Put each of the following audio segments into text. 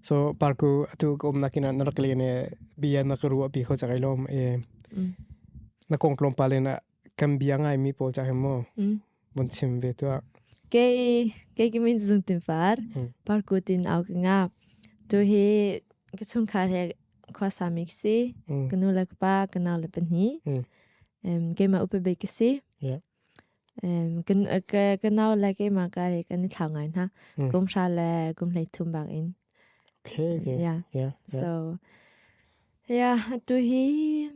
so parku atu ka um nakin na rak len e bia na ka ruwa pi kho chak lom e na kong tlom pa le na kan bia ngai mi pawl chak mo bon chim ve tu ke ke ki min zung tin far parku tin au ka nga tu hi ka chung kha he khwa sa mik si ka nu lak pa ka naw le pan hi em ke ma upe be ki si Kan nau le keimah kari kan i thlau ngai hna. Kum sha le kum hlei thum bak in. Okay, okay. Yeah. Yeah. So, yeah, tu hi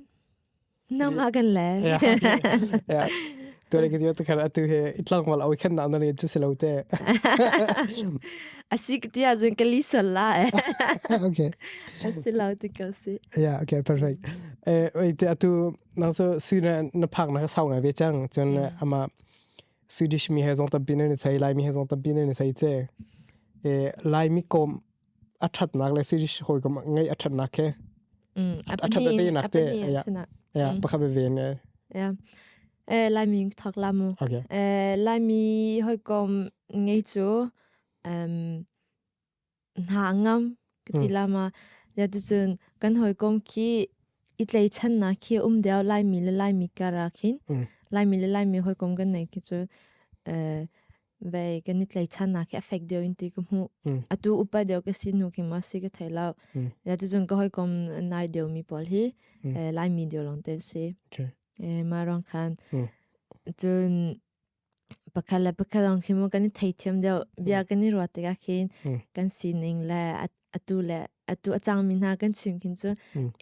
nama kan le. Yeah. Yeah. Tu le kita tu kara tu he itlang mal awi kan nau nani tu selo te. Asik dia zin kali sola eh. Okay. Asilo ti kasi. Yeah, okay, perfect. Eh, wait, atu Nak cu sui ne na phak na ka sau ngai ve cang cun le ama Swedish mi he zong tampi nan i thei Laimi he zong tampi nan i thei te e Laimi kom a thatnak le Swedish hoi kom ngai a thatnak he a that ve nak te ya ya pakhat ve ne ya eh Laimi thak lamu okay eh Laimi hoi kom ngai chu um hna ngam ka ti lama ya tu chun kan hoi kong ki i tlei chan na khi um deo lai mi le lai mi kara khin lai mi le lai mi hoi kong kan nei ki chu ve kan i tlei chan na khi affect deo in ti ku mu atu upa deo ka si nu ki ma si ka thai lau ya tu chun ka hoi kong nai deo mi pol hi lai mi deo long ten si ma rong khan chun Pakhat le pakhat lawng khi maw kan i theithiam deuh. Bia kan i ruat tikah khin kan sining le atu le atu a cangmi hna kan chim khin cu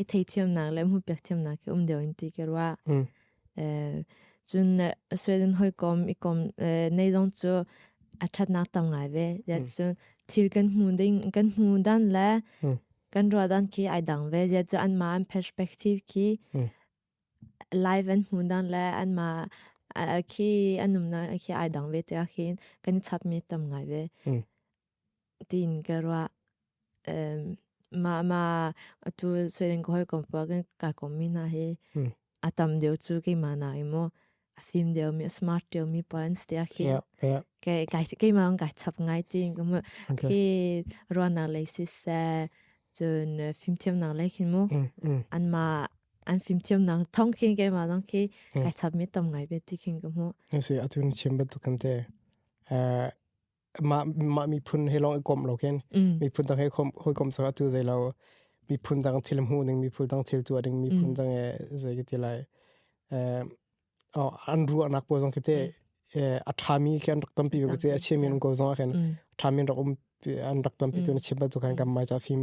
i theithiamnak le hmuhpiak thiamnak hi um deuh in ti ka ruah. Cun Sweden hawikom i kom nei zong cu a thatnak tam ngai ve. Cun thil kan hmu ding, kan hmu dan le kan ruah dan khi ai dang ve. Ziah cu anmah an perspective khi Live an hmu dan le anmah khi an umnak khi ai dang ve te ahhin kan i chap mi tam ngai ve. Tin ka rua mah tu soiling ka hoi kompa kan kai kom mi hna hi a tam deuh cu keimah na i maw. a thim deuh mi, a smart deuh mi pa an si a khi. Yeah, yeah. Ke kai ke ma kai chap ngai tin kum okay. khi ruana lei si se chun film thiam nang lei khin mu. Mm, mm. An ma an film thiam nang thong khin ke ma dang khi kai chap mi tom ngai be ti khin kum mu. Kasi atun chim bet kan te. Uh, mah mah miphun he long i kom lo ken miphun dang he kom hoi sak atu zai lo miphun dang thil mu ning miphun dang thil tu ding miphun dang e zai ki lai eh o an ru anak po zong ki te a thami ke an rak tam pi be te a chim min ko zong ken thami rak um an rak tam pi tu na chim ba tu kan kam mai cha phim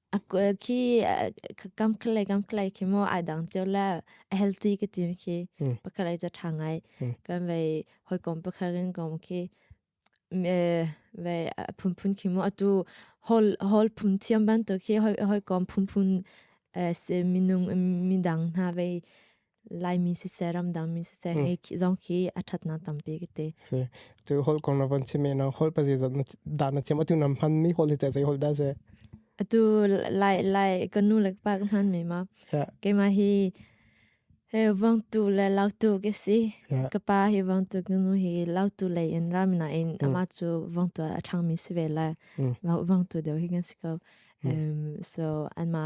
Khi kam khalai kam khalai khi mo ai dang cheu la healthy ka team khi pakalai cha tha ngai kan vai hoi kom pakharin kom khi vai phunphun khi mo atu hol hol phun thiam ban to khi hoi hoi kom phunphun se minung midang hna vai laimi sisai ramdangmi sisai hmm. ngai zong khi a that na tampi kite se tu hol kong na van chime na hol pa je da na chem atu nam han mi hol te sai hol da se atu lai lai kanu lak pak nan me ma ke ma hi he vang tu le lau tu ke si ka pa hi vang tu kanu hi lau tu le in ramna in hmm. ama chu vang tu a thang mi se ve la vang tu de hi ngan si ko so anma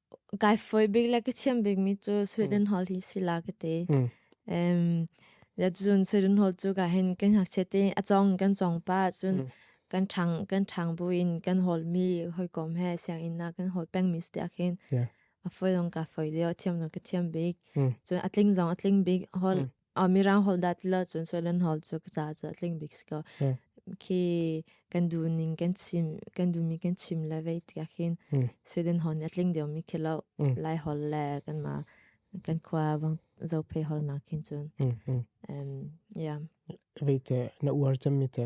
Kai foi bik le ka chiam bik mi cu Sweden Hall hi si la ka te. Um, dat cun Sweden Hall cu ka hin kan hak che te a cong kan cong pa cun kan thang kan thang bu in kan hol mi hoi kom he siang in na kan hol peng mi stia hin. A foi dong ka foi deo thiam no ka thiam bik. Cun a tling zong a tling bik hol. Oh, Mirang holh dat lo cun Soilen holh cu ka ca cu tling bik si ko. Khi kan du ning kan chim kan du mi kan chim le vei tiah khin Sweden holh nih a tling deuh mi khi lo Lai holh le kan ma kan khua vang zo phe holh nak khin cun. Yeah. Vei te na uar cem mi te.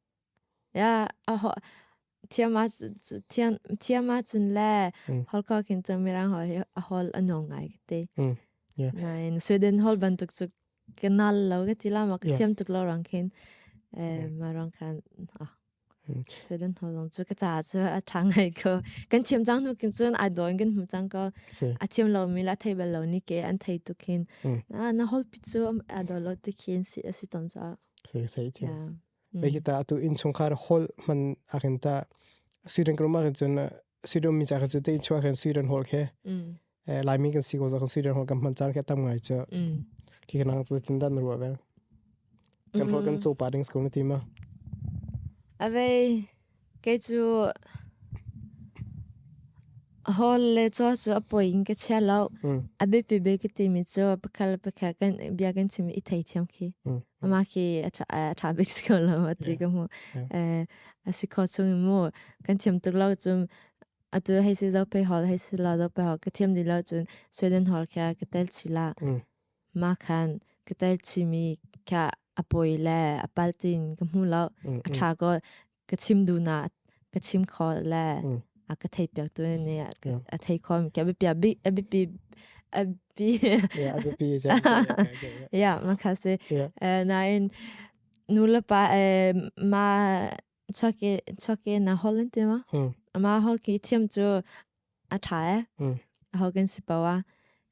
Ya thiama cun le holkok hin cu mirang hol anong ngai kiti. Nain Sweden hol bantuk cu kanal lo kiti lama kathiam tuk lo rang khin ma rang khan Sweden hol rong cu kaca cu a tang hai ko. Kan thiam cang nu kin cun a doin kan hum cang ko. A thiam lo mi la thei bal lo ni ke an thei tuk hin. Na hol pi cu a do lo ti khin si ton cang. se se che be kita atu inchungkhar hall man akin ta siren kroma kan chun siren mi cha chu te chua kan siren hall khe lai mi kan si ko kan siren hall kan man char khe tam ngai cha ki kan ang tu tin dan ru ba kan hol kan cho pa ding school ma ti ma avei Kei cu hall le caw cu a poi in ka chia lo. A biapi bik ka timi cu pakhat le pakhat kan bia kan chim i thei thiam khi. Amah khi a ṭha bik si ko lo ti ka hmuh. A si kho chung i mu kan thiam tuk lo cun atu hei si zo pei hall hei si lo zo pei hall ka thiam dih lo cun Sweden hall kha ka tel chih la. Makhan ka tar chimi kha a poi le a paltin ka hmu lo. A ṭha ko ka chim duna ka chim kho le a ka thei piak tu ni a thei kho mi ka bipi a bipi a bipi Yeah, a bipi is Yeah, makha se. Nain nu le pa ma chuak i chuak i na hol in tima ama hol ki thiam chu a tha e hol kan si pawa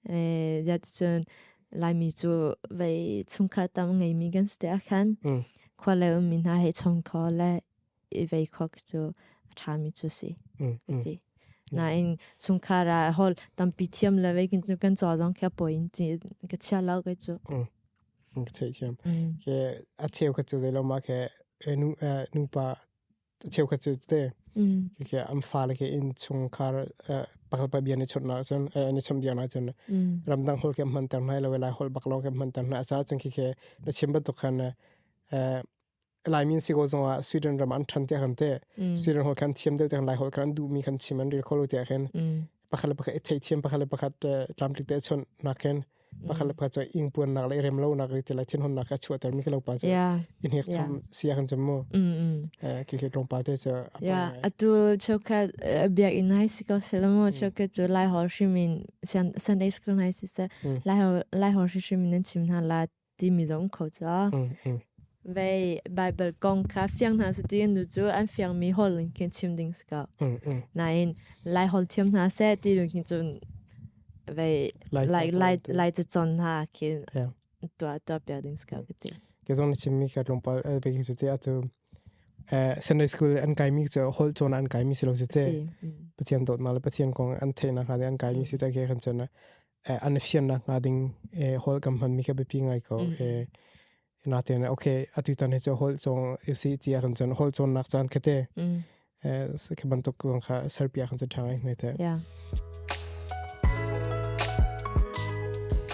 e ya chun lai mi chu vei chung khar tam ngei mi gan ste khan khwa le um mi na he chong kho le i vei khok chu a tha mi chu si ti na in chung khar a hol tampi thiam le vei kin chu kan cho jong kha poin chi ka chia lau kai chu ka theithiam. Ke a cheukhat cu zeiloma ke nupa a cheukhat cu te. Ke am fale ke in chungkhar pakalpa bia ni churna cun ni chum bia na cun. Ramdang hol ke hman ter nai lo lai hol bak lo ke hman ter nai. A sa cun ke na chim batuk khan Laimin si ko zong ah Sweden ram an than te kan te Sweden hol khan thiam deuh te lai hol khan du mi kan chim an ril kholo te khen pakhat le pakhat thei thiam pakhat le pakhat tlam tlik te chon nakken pakhat le pakhat cho ing puan nak le rem lo nak ri te lai thin hon nak ka chua ter mi kelo pa cho in hek chom sia kan chom mo ki ki rong pa te cho ya atul choka biak in hai si ko selamo choka cho lai hol shimin san sunday school hai si sa lai hol lai hol shimin nan chim na la timi zong kho ca. Vei Bible kong kha fiang hna sati nu cu an fiang mi hol in khin chim ding ska. Nain lai hol thiam hna se ti dun khin cun vei lai lai lai te chon hna khin tua tua pia ding ska kiti. Ke zong ni chim mi ka tlungpal be khin sati atu Sunday school an kai mi cu hol chona an kai mi silo sati. Pathian dot na le Pathian kong an theina ha de an kai mi sita ke khan chona eh, an fiannak nga ding eh, hol kam hman mi ka bipi ngai ko mm. eh, na te na okay atu tan he cho hol chong si ti kan chon hol chon nak chan kete mm. eh ke ban tok long kha serpia kan changai ne te yeah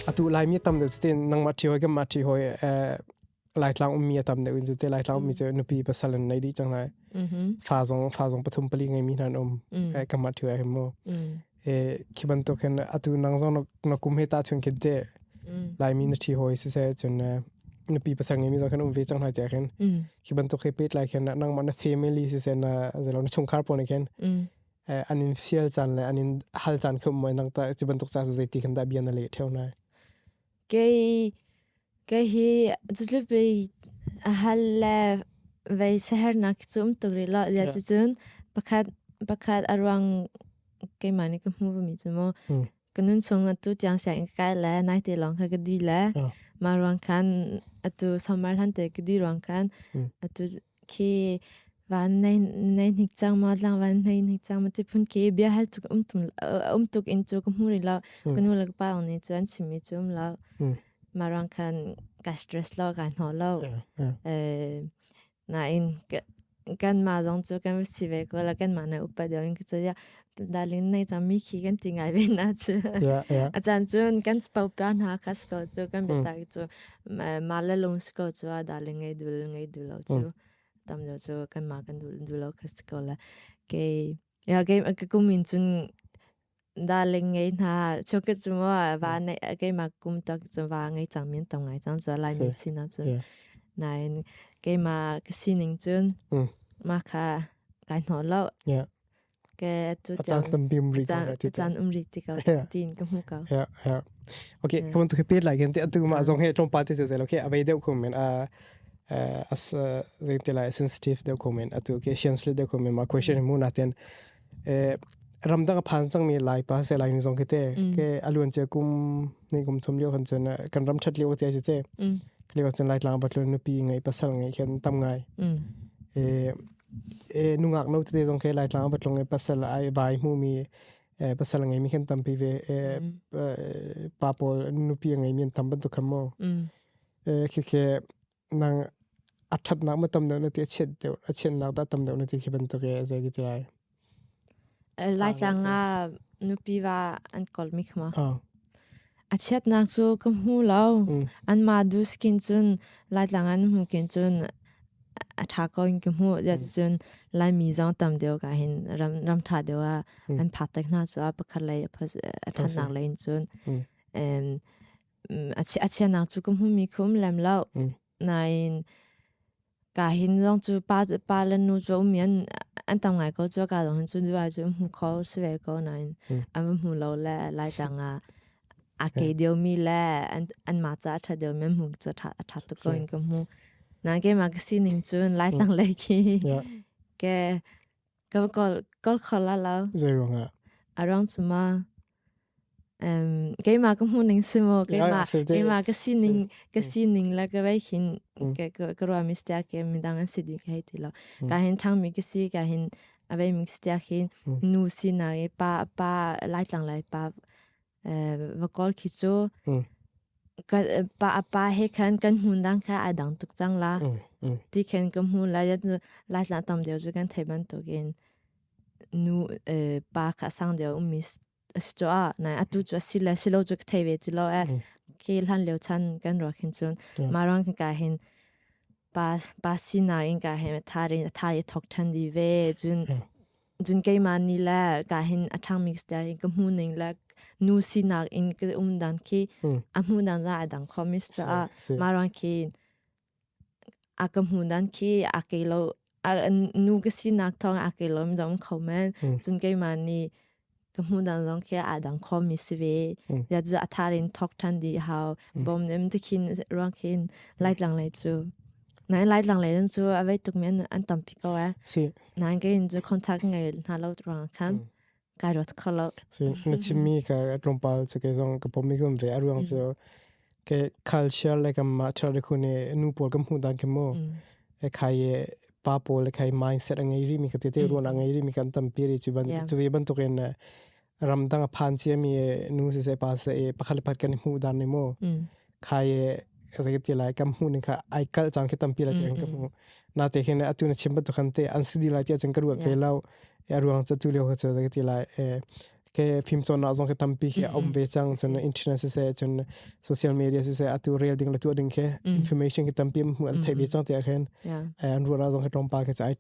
atu lai mi tam de tin nang ma thi hoi ga ma thi hoi eh laitlang ummi a tam deuh in cu te laitlang ummi cu nupi pasal an nei dih cang lai fa zong fa zong pathum pali ngai mi hna an um e kamah thiwa him mo e khi bantuk hin atu nang zong na kum he ta chun khin te lai mi na thi hoi se se chun nupi pasal ngai mi zong khan um ve chang na te khin khi bantuk he pet lai khin nang ma na family se se na zelo na chung khar pon khin an in fiel chan le an in hal chan khum mo nang ta chi bantuk cha su zeiti khan da bia na le theo na Kei hi cutlupei a hal le vei sahernak cu um tuk rih lo. Cucun pakhat a ruang keimah nih ka hmuhmi cu maw. Ka nunchung atu tiang sianginn ka kai le naite lawng kha ka di le. Mah ruang khan atu sawmar hlante ka di ruang khan atu khi van nai nai hnik chang ma tlang van nai hnik chang ma ti phun ki bia hal tuk um tum um tuk in chu ka mu ri lo ka nu la pa ong ni chuan sim mi chu um lo ma rang khan ka stress lo ka no lo eh na in kan ma zong chu kan si ve ko la kan ma na upa deu in ka chu ya dalin nei cham mi khi kan ti ngai ve na chu a chan chun kan spau pa na kha spau chu kan beta ki chu ma la lung sko chu a dalin ngai dul ngai du lo chu tam lo chu kan ma kan dul du lo kha sko la ke ya ke ka kumin chun darling ngai na cho ke chu mo va nei ke ma kum tak chu va ngai chang min tong ngai chang chu lai ni si na chu nine ke ma ka sining chun ma kha kai no lo ke cu caan tambim ri ko ti caan um ri ti ko tin ka mu ko ya ya okay kamun tu pe lai gen te atu ma zong he trom pa te sezel okay abei deu khomen a as zeng te lai sensitive deu khomen atu okay science le deu khomen ma question mu na ten ramdang phan chang mi lai pa se lai ni zong ke te ke aluan che kum nei kum thum liu kan chen kan ram that liu te che te khli kan chen lai tlang bat lu nu pi ngai pasal ngai khen tam ngai e e nungak no te zong ke laitlang va tlung e pasal ai vai mu mi e pasal ngai mi khan tampi ve e pa pawl nupi ngai mi tam ban tu kham mo e khi ke nang athat nak ma tam deuh na ti achiat deuh achiat nak da tam deuh na ti khi ban tu ke zai ki ti lai Laitlang ah nupi va an kolmi kha ma. A chiatnak cu ka hmu lo. An ma du skin cun Laitlang an hmu kin cun a tha ko in ka hmu. Cun Laimi zong tam deuh ka hin ram tha deuh ah an phatak hna cu a pakhat lei a thanak lei in cun. A chiatnak cu ka hmu mi khum lem lo. Nain Ka hin zong cu pa pa le nu cu um an an tam ngai ko cu ka zong hin cu duai cu hmu kho si ve ko nain an va hmu lo le lai tang ah a ke deu mi le an an ma ca a ṭha deu mi hmu cu ṭha a ṭha tuk ko in ka hmu. Na ke ma ka sining cun lai tang le khi ke ka kol kol kho la lo. Zei ruang ah? A ruang cu ma um keima ka muning simo keima keima ka sining ka sining la ka bai hin ka ruwa mi stia ke mi dang an si di ka ti lo ka hin thang mi ka si ka hin abai mi stia hin nu si na e pa pa lai tlang lai pa va kol khi chu ka pa pa he khan kan mun dang ka a dang tuk chang la ti khen ka mu la yat lai tlang tam deu chu kan thei ban to gin nu pa kha a sang deuh ummi a si caah nai atu cu a si le si lo cu ka thei ve ti lo eh ke hlan lio chan kan ruak hin cun mah ruang hin ka hin pa pa sinak in ka hin a thar in a thar i thok than di ve cun cun keimah ni le ka hin a thang mix tia in ka hmu ning le nu sinak in ka um dan khi a hmu dan za a dang kho mis caah mah ruang khi a ka hmu dan khi a kei lo a nu ka sinak thawng a kei lo zong kho men cun keimah nih ka hmu dan zong khi a dang kho mi si ve ya cu a thar in thok than di hau bom nem te khin ruang khin lai tlang lei cu nai lai tlang lei cu a vei tuk men an tam pi ko e nai ke in cu contact ngai hna lo ruang khan Kai rawt kho lo. Na chimmi ka tlawmpal cu ke zong ka pom i kun ve a ruang cu ke culture le kam ma thar de khune nu pawl kam hu dan kem mo e khai e pa pawl le khai mindset a ngei ri mi ka te te ruan a ngei ri mi kan tam pi ri chu ban chu ve ban to ken ram dang a phan che mi nu se se pa se e pakhat pat kan hu dan ne mo khai zei ti lai kam mu ni kha ai kal chang khi tampi lai kan ka mu na te hin atu na chim batu khan te an su di lai ti chang ka ru ke lau e ruang cha tu leo ha cha ti lai e ke phim chon na zong ke tampi ke om ve chang chon internet se chon social media se atu rel ding la tu ding ke information ke tampi mu an thai ve chang te khen an ru na zong ke tong pa ke chai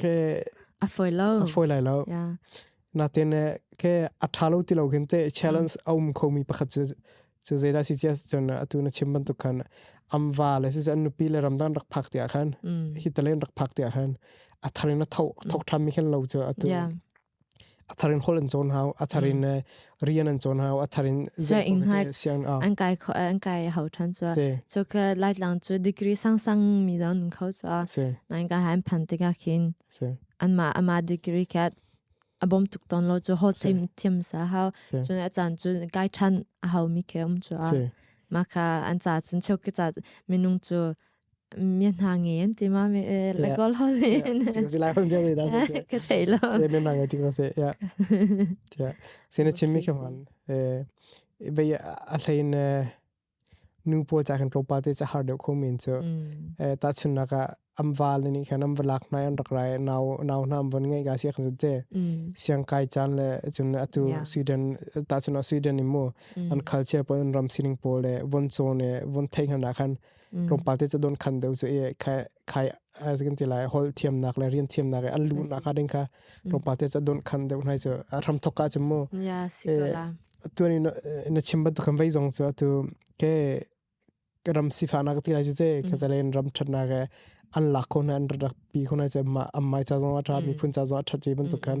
ke a foi lo a foi lai lo yeah. natin ke a tha lo ti lo kin te challenge um khomi pakhat chu chu zeda si tia chon atu na chim ban tu khan amwa le si an nupi le ramdan rak phak tia khan hi talen rak phak tia khan a tharin na thok thok tham mi khan lo chu atu a thar in hol an chon hau a thar in rian an chon hau a thar in sianginn hna an kai kho an kai hau than chu chu ka lai tlang chu degree sang sang mi zong nun kho chu nai ka han phan te ka khin an ma ama degree ka abom tuk ton lo chu ho thim thim sa hau chu a chan chu kai than a hau mi ke um chu ma ka an cha chun cheu ke cha minung chu mi hna nge an ti ma me la ko lo le Ting si lai hon dia da se se ka thei lo le me ma nge ting se ya ja se ne chim mi kho man eh be a hlain nu po cha kan tropa te cha har deu kho min chu eh ta chun na ka am val ni khan am valak na an rak rai naw naw na am von ngai ga si khan te siang kai chan le chun atu sweden ta chun sweden ni mo an culture pon ram sining pole von chone von thei hna khan tlawmpal te cu don khan deu cu e khai khai as kan ti lai hol thiamnak le rian thiamnak an lu nak a ding kha tlawmpal te cu don khan deu hnai cu a ram thok ka chu mu ya sikala tu ni na chim ba tu kan vai zong chu tu ke ram sifa na ti lai chu te ka talen ram that na ke an la ko na an rak pi ko na che ma am mai cha zong a tha mi phun cha zong a that mi ban tu kan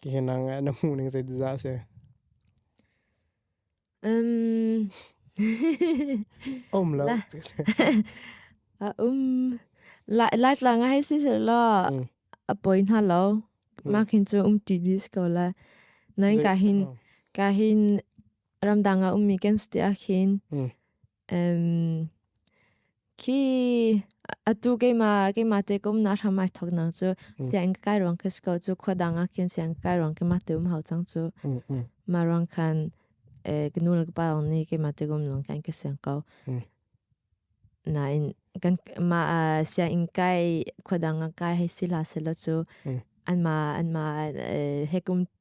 Hihi na ngaih na hmuh ning zeitin dah a si? Um, Um lo. La. a um lai lai tlang hai si se lo Mm. a poi hna lo ma khin chu um ti dis ko la nai ka hin ka hin ramdang a um mi kan sti a khin Mm. khi atu keima keima te kom na hram ai thok nang chu siang kai rong ke sko chu khwa dang a kin siang kai rong ke ma te um hau chang chu ma rong khan knu la pa rong ni keima te kom long kan ke siang ko na in kan ma siang kai khwa dang a kai hei sila selo chu an ma an ma hekum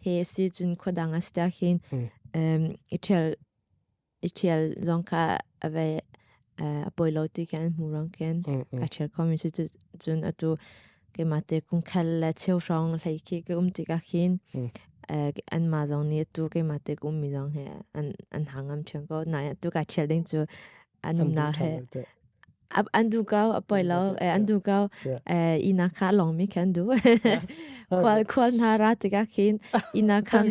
he si cun khua dang a si tak hin um i thial i thial zong kha ave a poi lo ti kan mu rong ken ka thial kho mi si cun atu keima te kung khal le cheu rong hlei khi ke um ti ka khin an ma zong nih tu keima te um mi zong he an an hangam thian ko na tu ka thial ding cu an na he an du kau a poi lo an du kau i na kha long mi kan du khual khual na ra tika khin i na khan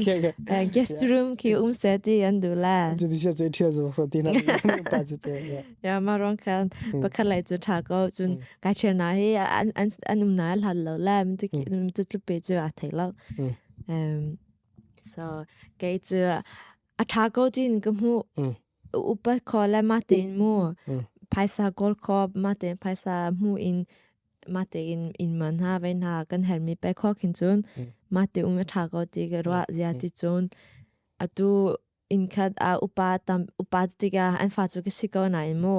guest room ki um se ti an du la tu ti se che thia zo so ti na pa che te ya ma rong khan pakhat lai chu tha ko chun ka che na hi an an an um na hlat lo la mi ti ti tu pe chu a thei lo um so kei chu a tha ko tin ku mu upat kho le mate in mu phaisa kawl kho mate phaisa mu in mate in in man ha ve na kan hermi pe kho khin chun mate um a tha ko ti ke ro zia ti chun atu in khat a upa tam upa tiga an fa chu ke si ko na in mu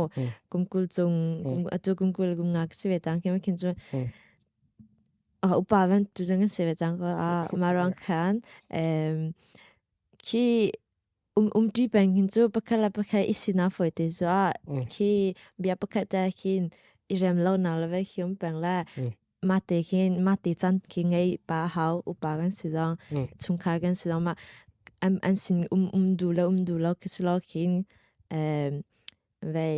kumkul chung atu kumkul kum nga si ve tang khem khin chun a upa van tu jang si ve tang ko a marang khan em ki Um um ṭi peng hin cu pakhat le pakhat i sinah fawite zuah khi bia pakhat te khin i rem lo na leve khium peng le ma te khin ma te chan ki ngei pa hau upa kan si zong chungkhar kan si zong ma an sin um um du le um du lo kisilo khin vei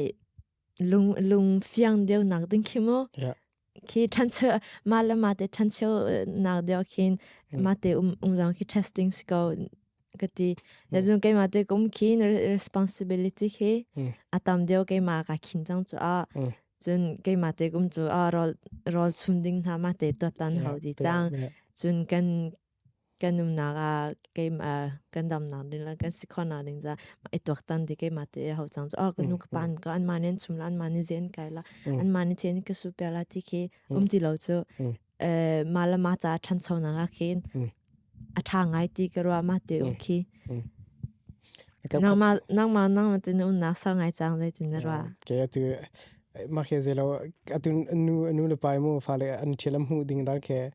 lung lung fiang deu nak ding khi mu khi thancheu ma le ma te thancheu nak deu khin ma te um um jang khi testing siko kati la jung ke ma te kum khin responsibility khi atam deu ke ma ka khin jang chu a chun ke ma te kum chu a rol rol chum ding na ma te to tan hau di tang chun kan kan nunnak ah keimah kan damnak ding le kan sikhonak ding caah ma i tuaktan ti keimah te a hau cang cu. Oh ka nu ka pa nih ka anmah nih an chum la anmah nih zein kai la anmah nih chen ka suh piak la ti khi um ti lo cu mah le mah caah ṭhanchonak ah khin a ṭha ngai ti ka ruah ma te um khi. Nangmah nangmah nangmah te na umnak sau ngai cang zeitin na ruah? Kei atu Makhe zelo atun anu anu le pai mo fa le an thil am hu ding dar ke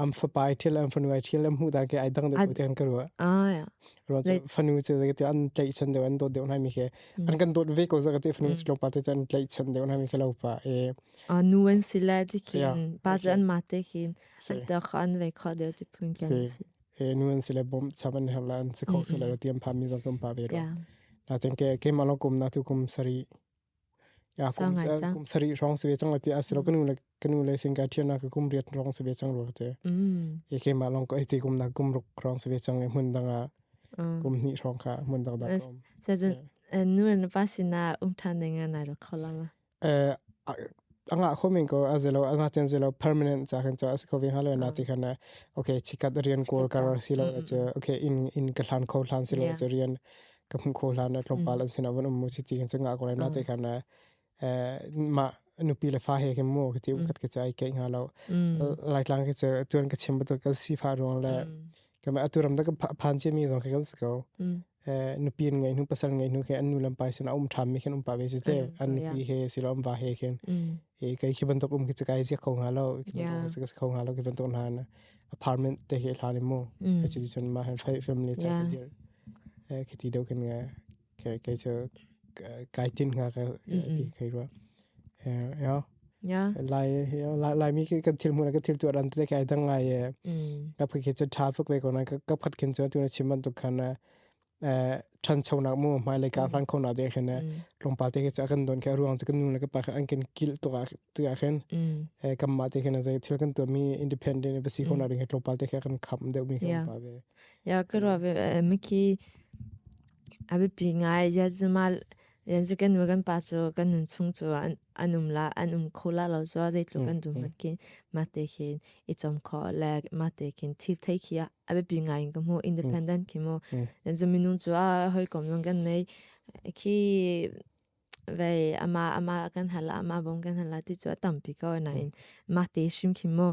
am fa pai thil am fanu ai thil am hu dar ke ai dang de tan karu ah ro fanu che za ke an tlai chan de an dot de nai mi ke an kan dot ve ko za ke fanu che lo pa te chan tlai chan de nai mi ke lo pa e a nu an sila ti kin pa an ma te kin an ta khan ve kha de ti pun kan si e nu an sila bom chaman hela an se kho sila tiam pa mi zong kum pa ve ro na ten ke ke malo kum na tu kum sari ya kum kum sari rong se chang lati asilo kanu le kanu le sing ka thiam na ka kum riat rong se chang ro te e ke ma long ko iti kum na kum ruk rong se chang e mun danga kum ni rong ka mun dag da kom sa nu na pa sina umthan nenga na ro kholanga eh anga khomin ko azelo anga ten zelo permanent cha kan cha ko ve halo na ti khana okay chikat rian kol kar silo che okay in in ka hlan kho hlan silo che rian ka hmuh kho hlan ah tlawmpal an sin avan um mu si ti kan chunga ko lai na te khan ma nupi le fa he ke mu ke ti kat ke chai ke nga lo lai tlang ke che tuan ka chim batu ka si fa rong le ka ma aturam da ka phan che mi zong ke kan sko nupi in ngai nu pasal ngai nu ke anu lam pai sin aum tham mi khen um pa ve se te an nupi he silom va he khen e kai ki bantok um ke chai se kho nga lo ke kho nga lo ke bantok na apartment te ke thali mu ke chi chun ma family te te Khiti deuh kan ngah. Kai cu kai tin ngah kai rua. Laimi kan thil hmuh na kan thil tuar an te kai dang ngai. Kap kai cu tha fuk ve ko na kap khat kin cu tu na chim ban tuk khan na than chau nak mu mai le ka hran khon na de khin na longpa te kai cu akan don kai ruang cu kan nu le ka pa khan an kin kil tuk a khin. Kam ma te khin a zai thil kan tuar mi independent embassy khon na ring longpa te kai kan kham deuh mi kan pa ve. Ya ka ruah ve mi khi a biapi ngai yanzu ma yanzu kan nu kan pa cu kan nun chung cu an an um la an um kho la lo cu zeitluk kan duh mat kin mah te khin i chom kho le mah te khin thil thei khi a biapi ngai in ka hmu independent khi mu yanzu minung cu a hawikom zong kan nei khi vei ama ama kan hal ama bom kan hal ti cu a tampi ko nain mah te hrim khi mu